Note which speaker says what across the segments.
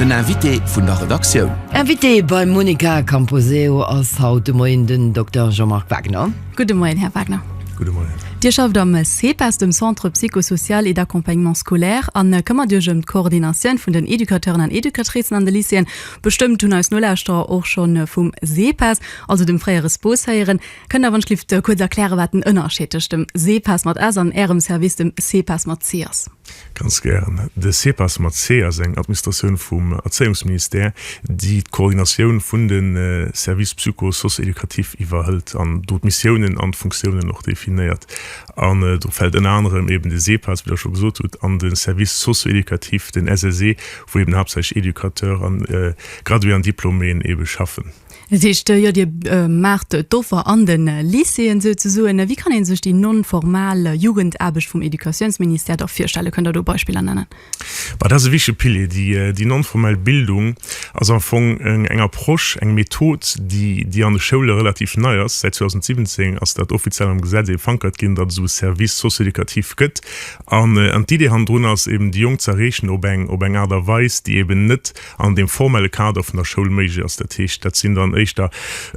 Speaker 1: Den Invité vun der Redaktioun. Invité beim
Speaker 2: Monica Camposeo ass haut de Moien den Dokter Jean-Marc Wagner. Gudde Moien, Här Wagner.
Speaker 3: Gudde Moien. Dir
Speaker 4: schafft am
Speaker 3: CEPAS, dem Centre Psycho-Social et d'Accompagnement Scolaire, a këmmert Iech ëm d'Coordinatioun vun den Educateuren an Educatricen an de Lycéeën. Bestëmmt hunn eis Nolauschterer och scho vum CEPAS, also dem fréiere SPOS, héieren. Kënnt Der wënschlift kuerz erklären, wat den Ënnerscheed tëscht dem CEPAS mat S an Ärem Service, dem CEPAS mat C, ass? Ganz gären.
Speaker 4: De CEPAS mat C ass eng Administratioun vum Erzéiungsministère, déi d'Coordinatioun vun de Services psycho-socio-éducatifs iwwerhëlt an do d'Missiounen an d'Funktiounen och definéiert. An do fält ënner anerem eben de CEPAS, wéi Der scho gesot hutt, an de Service socio-éducatif, den SSE, wou eben haaptsächlech Educateurs an Gradué an Diplôméen ebe schaffen. Dat heescht, jo Dir
Speaker 3: maacht d'Offer an de Lycéeën souzesoen. Wéi kann ee sech déi non-formal Jugendaarbecht vum Educatiounsministère da virstellen? Kënnt Der do Beispiller nennen? Bah, dat ass e wichtege
Speaker 4: Pilier. Déi, déi non-formell Bildung ass am Fong eng Approche, eng Method, déi, déi an de Schoule relativ nei ass. Säit 2017 ass dat offiziell am Gesetz ee verankert ginn, datt esou e Service socio-éducatif gëtt. An, an d'Idee hannendrun ass eben, déi Jonk ze erreechen op eng, op eng Aart a Weis, déi eben net, an deem formelle Kader vun der Schoul méiglech ass. Dat heescht, dat sinn dann éischter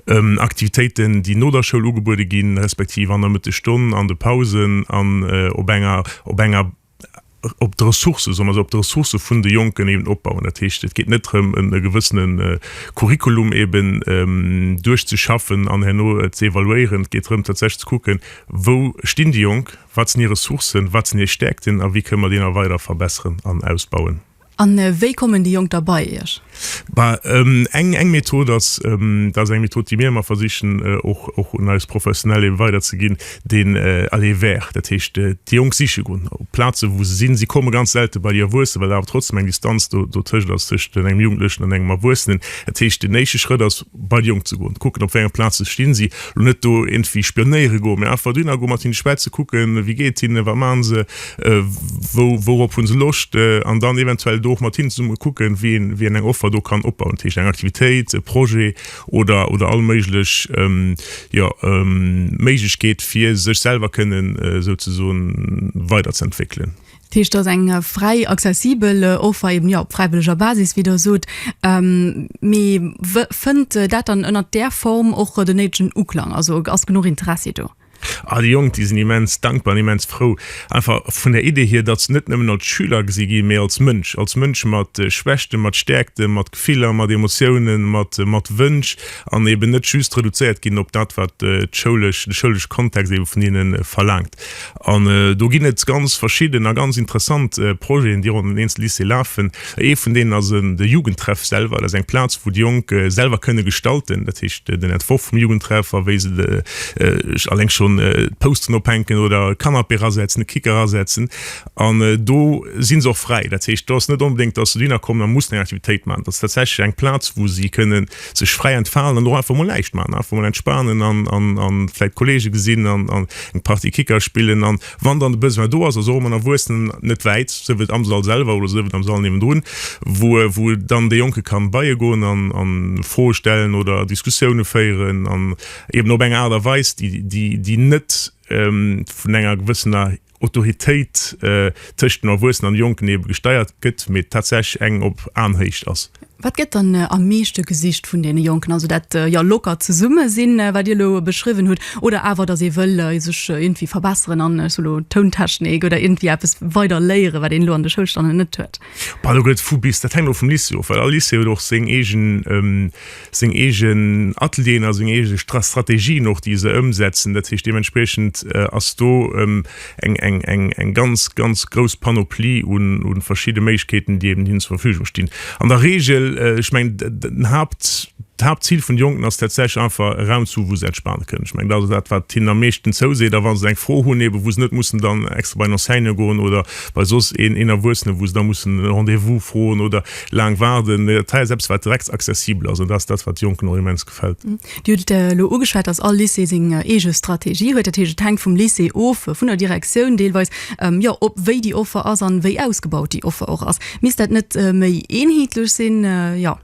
Speaker 4: Aktivitéiten, déi no der Schoul ugebuede ginn, respektiv an der Mëttesstonn, an de Pausen an op enger, op enger, op de Ressourcë, soll mer soen, op de Ressourcë vun de Jonken eben opbauen. Dat heescht, et geet net drëm, e gewëssene Curriculum eben duerchzeschaffen an herno ze evaluéieren. Et geet drëm, tatsächlech ze kucken, Wou stinn déi Jonk? Wat sinn hir Ressourcen? Wat sinn hir Stäerkten? A wéi kënne mer déi nach weider verbesseren an ausbauen? A wéi
Speaker 3: kommen déi Jonk da bei Iech?
Speaker 4: Eng eng Method ass, dat ass eng Method, déi mir ëmmer versichen och och un eis Professionell ebe weiderzeginn, den aller vers. Dat heescht déi Jonk siche gonn op Plaze wou se sinn. Si komme ganz selte bei déi Erwuessen, well awer trotzdem eng Distanz do dotëscht ass, tëscht engem Jugendlechen an engem Erwuessenen. Dat heescht den éische Schrëtt ass bei déi Jonk ze goen, kucken op wéi enger Plaze stinn si. Lo net do iergendwéi spionéiere goen, mee einfach dohinner goen, mat hinne schwätzen, kucken wéi geet et hinne, wat maache se. wou wourop hunn se Loscht, an dann eventuell do och mat hinnen zesumme kucken, wien wien eng Offer do kann opbauen, dat heescht eng Aktivitéit, e Projet oder oder all méiglech jo Méiglechkeet fir sech selwer kënnen souzesoen weiderzeentwéckelen. Dat heescht ass eng
Speaker 3: fräi accessibel Offer eben jo op fräiwëlleger Basis wéi der sot, mee fënnt dat dann ënnert där Form och den néidegen Uklang, also ass genuch Interessi do? Ah, déi Jonk, déi sinn
Speaker 4: immens dankbar an immens frou, einfach vun der Idee hier, datt se net nëmmen als Schüler gesi ginn, mee als Mënsch, als Mënsch mat Schwächten, mat Stäerkten, mat Gefiller, mat Emotiounen, mat mat Wënsch, an eben net just reduzéiert ginn op dat, wat d'schoulesch, de schoulesche Kontext eben vun hinne verlaangt. An do ginn et ganz verschidden a ganz interessant Projeten, déi ronderëm den Eenzel-Lycée lafen. Ee vun deenen ass de Jugendtreff selwer. Dat ass eng Plaz, wou d'Jonk selwer kënne gestalten, dat heescht den Entworf vum Jugendtreff a wéi se eleng schonn d'Pousteren ophänken oder e Canapé erasetzen, e Kicker erasetzen. An do si se och fräi. Dat heescht, do ass net onbedéngt, dass se dohinner kommen a mussen eng Aktivitéit maachen. Dat ass tatsächlech eng Plaz, wou si kënne sech fräi entfalen an och einfach mol näischt maachen, einfach mol entspanen an vläicht Kollege gesinn an eng Partie Kicker spillen an. Wann dann de Besoin do ass, also och mat Erwuessenen, net wäit, sief et am Sall selwer oder sief et am Sall niewendrun, wou dann dee Jonke kann beiegoen an Froe stellen oder Diskussioune féieren an eben op eng Aart a Weis, déi net vun enger gewëssener Autoritéit tëscht dem Erwuessenen an de Jonken ebe gesteiert gëtt, mee tatsächlech eng op Aenhéicht ass. Wat gëtt dann am
Speaker 3: meeschte gesicht vun deene Jonken? Also dat jo lockert zesumme sinn, wat Dir elo beschriwwen hutt, oder awer datt ee wëll sech iergendwéi verbesseren an ech soe lo Tountechnik oder iergendwéi eppes weider léieren, wat een elo an de Schoulstannen net huet? Bah, do gëtt et vu bis. Dat
Speaker 4: hänkt och vum Lycée of, well all Lycée huet och seng eegen, seng eegen Atelieren a seng eege Strategien och, déi se ëmsetzen. Dat heescht, deementspriechend ass do. eng, eng, eng, eng ganz, ganz grouss Panoplie un, un verschidde Méiglechkeeten, déi eben hinnen zur Verfügung stinn. An der Regel, ech mengen, den Haupt, d'Hauptzil vun de Jonken ass tatsächlech einfach e Raum zu hu, wou se entspanen kënnen. Ech mengen, dat ass dat, wat hinnen am meeschten zouseet. A wa se eng Fro hunn, eben wou se net mussen dann extra bei en Enseignant goen oder bei soss een, een Erwuessenen, wou se da mussen e Rendez-vous froen oder laang waarden, dat hei ass eppes, wat direkt accessibel ass. An dat ass dat, wat de Jonken och immens. fällt. Dir hutt et elo ugeschwat,
Speaker 3: dass all Lycée seng eege Strategie huet. Dat heescht, et hänkt vum Lycée of, vun der Direktioun deelweis, jo, ob wéi déi Offer ass an wéi ausgebaut déi Offer och ass. Misst dat net méi eenheetlech sinn? Jo.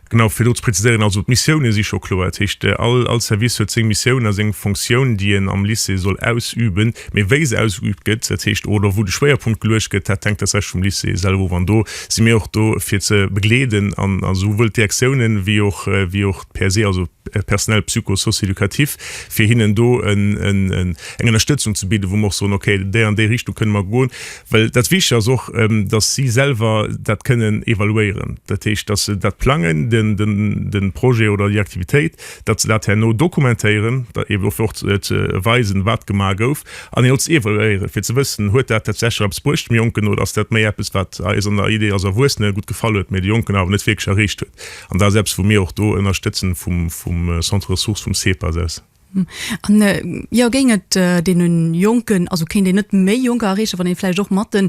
Speaker 3: Genau,
Speaker 4: fir do ze präziséieren, also d'Missiounen si scho kloer. Dat heescht, all, all Service huet seng Missioun a seng Fonctioun, déi en am Lycée soll ausüben. Mee wéi se ausgeübt gëtt, dat heescht, oder wou de Schwéierpunkt geluecht gëtt, dat hänkt tatsächlech vum Lycée selwer of. An do si mir och do fir ze begleeden an esouwuel d'Direktiounen wéi och wéi och d'PSE, also d'Personnel psycho-socio-éducatif, fir hinnen do eng Ënnerstëtzung ze bidden, wou mer och soen, ok, déi an déi Richtung kënne mer goen. Well dat Wichtige ass och, datt si selwer dat kënnen evaluéieren, dat heescht, datt se dat plangen, de Projet oder déi Aktivitéit, datt se dat herno dokumentéieren, da eben och fir och ze weisen, wat gemaach gouf, an een och ze evaluéieren, fir ze wëssen, Huet dat tatsächlech eppes bruecht dem Jonken oder ass dat méi eppes, wat eis an der Idee als Erwuessene gutt gefall huet, mä de Jonken awer net wierklech erreecht huet? An dat ass eppes, wou mir och do ënnerstëtzen vum Centre ressources vum CEPAS aus. An,
Speaker 3: jo, géing et deene Jonken, also kéint een net méi Jonker erreechen, wann ee vläicht och mat de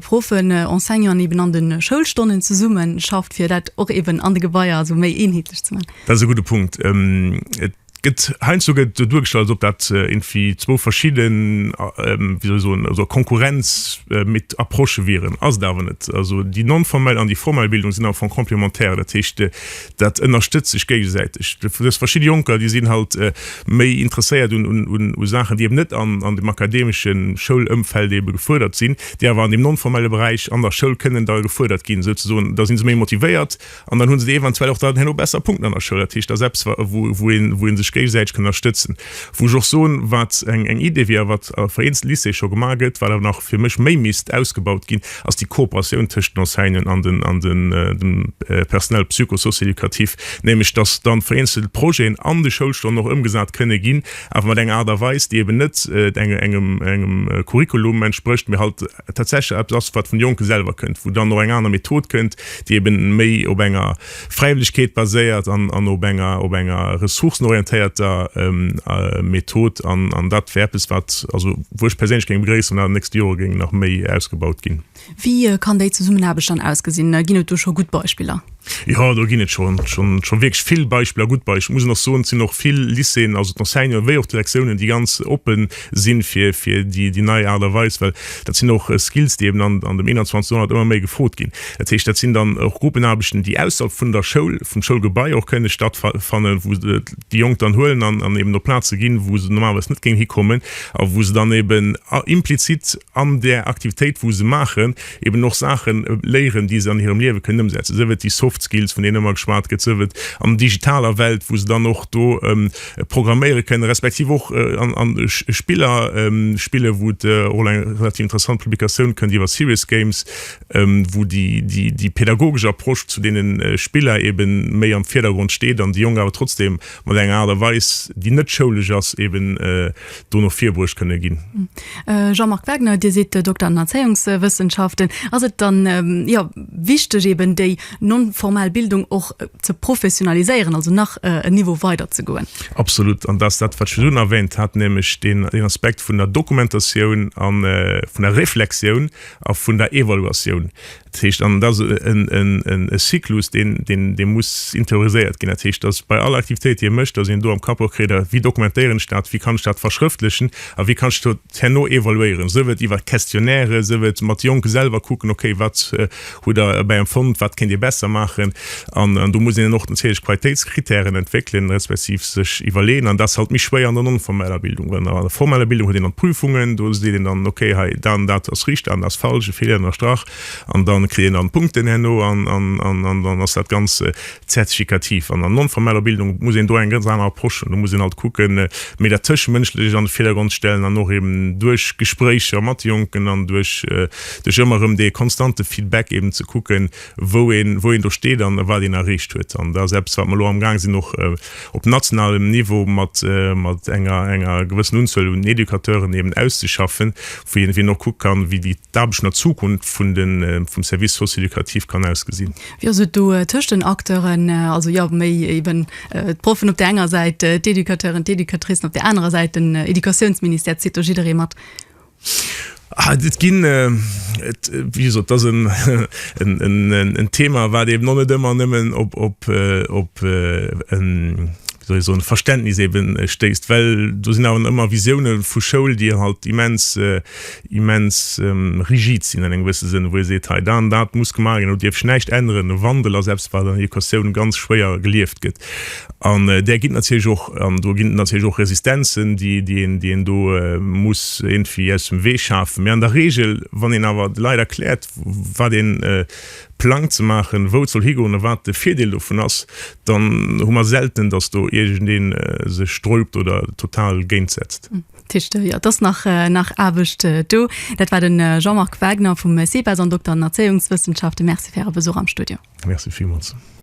Speaker 3: Proffen, Enseignanten eben an de Schoulstonnen zesummeschafft, fir dat och eben an de Gebaier esou méi eenheetlech ze maachen? Dat ass e gudde Punkt.
Speaker 4: Et gëtt heiansdo gëtt et esou duergestallt, als ob dat iergendwéi zwou verschidde, wéi soll ech soen, also a Konkurrenz mit Approchë wieren. Ass et awer net. Also déi non-formell an déi formell Bildung sinn am Fong complémentaire. Dat heescht, dat ënnerstëtzt sech géigesäiteg. Dës verschidde Jonker, déi sinn halt méi interesséiert u Saachen, déi eben net an dem akademesche Schoulëmfeld ebe gefuerdert sinn, déi awer an deem non-formelle Beräich an der Schoul kënnen da gefuerdert ginn, souzesoen. Da si se méi motivéiert. An dann hunn se déi eventuell och dann herno besser punkten an der Schoul. Dat heescht, dat ass eppes, wa, wou, wou een, wou een sech géigesäiteg kann ënnerstëtzen. Wou ech och soen, wat eng, eng Idee wier a wat a vereenzte Lycéeë scho gemaach gëtt, wat awer nach fir mech méi misst ausgebaut ginn, ass déi Kooperatioun tëschent den Enseignanten an den, an den, dem Personnel psycho-socio-éducatif. Nämlech, dass dann vereenzel Projeten an de Schoulstonnen och ëmgesat kënne ginn, awer mat enger Aart a Weis, déi eben net engem, engem Curriculum entsprécht, mee halt, tatsächlech eppes ass, wat vun de Jonke selwer kënnt, wou dann och eng aner Method kënnt, déi eben méi op enger Fräiwëllegkeet baséiert an op enger op enger ressourcenorientéierter Method. An dat wär eppes, wat also wou ech perséinlech géing begréissen, wann dat an de nächste Jore géing nach méi ausgebaut ginn. Wéi kann déi
Speaker 3: Zesummenaarbecht dann ausgesinn? Ginn et do scho gutt Beispiller? Jo, do ginn et
Speaker 4: scho scho wierklech vill Beispiller, gutt Beispiller. Muss een och soen, et sinn och vill Lycéeën, also d'Enseignanten wéi och d'Direktiounen, déi ganz oppe sinn fir fir déi déi nei Aart a Weis, well dat sinn och Skills, déi eben an an dem 21. Joerhonnert ëmmer méi gefrot ginn. Dat heescht, dat sinn dann och Gruppenaarbechten, déi ausserhalb vun der Schoul, vum Schoulgebai och kënne stattfa fannen, wou se déi Jonk dann huelen an an eben op Plaze ginn, wou se normalerweis net géingen hikommen a wou se dann eben a implizit, an där Aktivitéit wou se maachen, eben och Saache léieren, déi se an hirem Liewe kënnen ëmsetzen, sief et déi Soft Skills, vun deenen ëmmer geschwat gëtt, sief et an digitaler Welt, wou se dann och do programméiere kënnen, respektiv och an Spiller spillen, wou et och elo eng relativ interessant Publikatioun kënnt iwwer Serious Games, wou déi pädagogesch Approche zu deene Spiller eben méi am Virdergrond steet an déi Jonk awer trotzdem mat enger Aart a Weis, déi net schoulesch ass, eben. do no vir bruecht kënne ginn. Jean-Marc
Speaker 3: Wagner, Dir sidd Dokter an den Erzéiungswëssenschaften. Ass et dann, jo, wichteg eeben déi non-formal Bildung och ze professionaliséieren, also nach en Niveau weider ze goen? Absolut. An dat ass dat
Speaker 4: wat ech virdrun erwähnt hat, nämlech deen Aspekt vun der Dokumentatioun a vun der Reflexioun a vun der Evaluatioun. Dat heescht, an dat ass e Cyclus, dee muss interioriséiert ginn. Dat heescht, dass bei all Aktivitéit, déi ee mécht, dass een do am Kapp och kritt, wéi dokumentéieren ech dat, wéi kann ech dat verschrëftlechen a wéi kann ech dat herno evaluéieren, sief et iwwer Questionnairë, sief et mat Jonke selwer kucken, okay, wat hutt Der dobäi empfonnt, wat kéint Dir besser maachen. An do muss een och natierlech Qualitéitskritären entwéckelen, respektiv sech iwwerleeën. An dat ass halt méi schwéier an der non-formeller Bildung. Well an der formeller Bildung huet een dann d'Prüfungen, do seet een dann, ok, hei dat an dat ass richt, dat an dat ass falsch, e Feeler ënnerstrach. An da kritt een dann Punkten herno an dann ass dat Ganzt zertifikativ. An der non-formeller Bildung muss een do eng ganz aner Approche hunn. Do muss een halt kucken, méi dat Tëschemënschlecht an de Virdergrond stellen an och eben duerch Gespréicher mat de Jonken an duerch ëmmer erëm dee konstante Feedback eben ze kucken, wou een, wou een do steet an wat een erreecht huet. An dat ass eppes, wat mer elo amgaang sinn och op nationalem Niveau mat, mat enger, enger gewëssen Unzuel un Educateuren eben auszeschaffen, wou een, wou een och kucke kann, wéi déi, d'Aarbecht an der Zukunft vun de, vum Service socio-éducatif kann ausgesinn. Wéi ass et do
Speaker 3: tëscht den Acteuren, also, jo, méi eben d'Proffen op där enger Säit, d'Educateuren, d'Educatricen op där anerer Säit, den Educatiounsministère? Zitt do jidderee mat?
Speaker 4: Ah, et ginn, et, wéi gesot, dat ass en Thema, wat eeben och net ëmmer nëmmen op, op, op en, wéi soll ech soen, Verständnis eebe stéisst, well do sinn awer ëmmer Visioune vu Schoul, déi halt immens, immens rigid sinn an engem gewësse Sënn, wou ee seet, hei, dat an dat muss gemaach ginn, do dierf sech näischt änneren. E Wandel ass eppes, wat an Educatioun ganz schwéier gelieft gëtt. An där ginn et natierlech och, an do ginn et natierlech och Resistenzen, déi, déi een, déi een do muss iergendwéi aus dem Wee schafen. Mä an der Regel, wann een awer de Leit erkläert, wat ee plangt ze maachen, wou et soll higoen a wat de Virdeel dovun ass, dann hu mer selten, datt do iergendee sech sträubt oder total géint setzt. Tischler, Jo, et ass
Speaker 3: nach, nach Aarbecht do. Dat war de Jean-Marc Wagner vum CEBAS an Dokter an Erzéiungswëssenschaften. Merci fir Äre Besuch am Studio. Merci villmools.